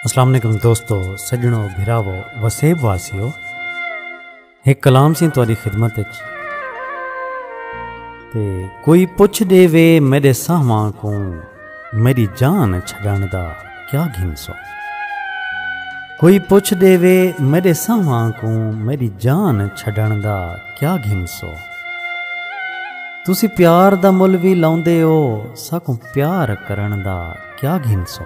السلام علیکم دوستو سجنو بھراو وسیب واسیو ایک کلام سی تاری خدمت تے کوئی پوچھ دے وے میرے ساہواں کو میری جان چھڑن دا کیا گھن سو کوئی پوچھ دے وے میرے ساہواں کو میری جان چھڑن دا کیا گھن سو تسی پیار دا مل بھی لاؤندے ہو ساکوں پیار کرݨ دا کیا گھنسو۔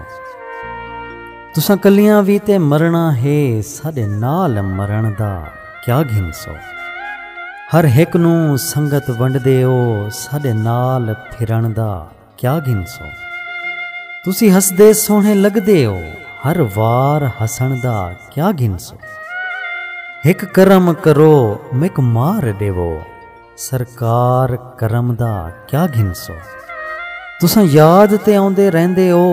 تساں کلیاں وی تے مرݨا ہے ساݙے نال مرݨ دا کیا گھنسو۔ ہر ہک نوں سنگت ونڈدے او ساݙے نال پھرݨ دا کیا گھنسو۔ تسی ہسدے سوہݨے لڳدے او ہر وار ہسݨ دا کیا گھنسو۔ ہک کرم کرو میک مار ݙیوو۔ سرکار کرم دا کیا گھنسو تساں یاد تے آندے رہندے او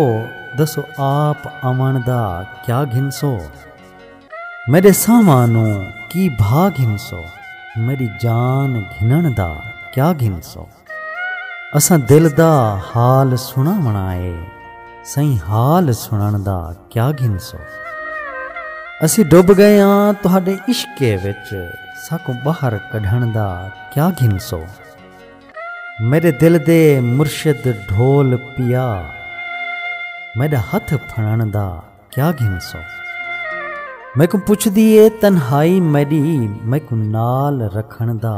دسو آپ آون دا کیا گھنسو میرے سامانوں کی بھا گھنسو میری جان گھنن دا کیا گھنسو اساں دل دا حال سنا منائے سائیں حال سنن دا کیا گھنسو اسی ڈب گئے آں تہاڈے عشقے وچ ساکوں باہر کڈھن دا کیا گھنسو میڈے دل دے مرشد ڈھول پیا میڈا ہتھ پھڑن دا کیا گھنسو میکوں پچھدی اے تنہائی میڈی میکوں نال رکھن دا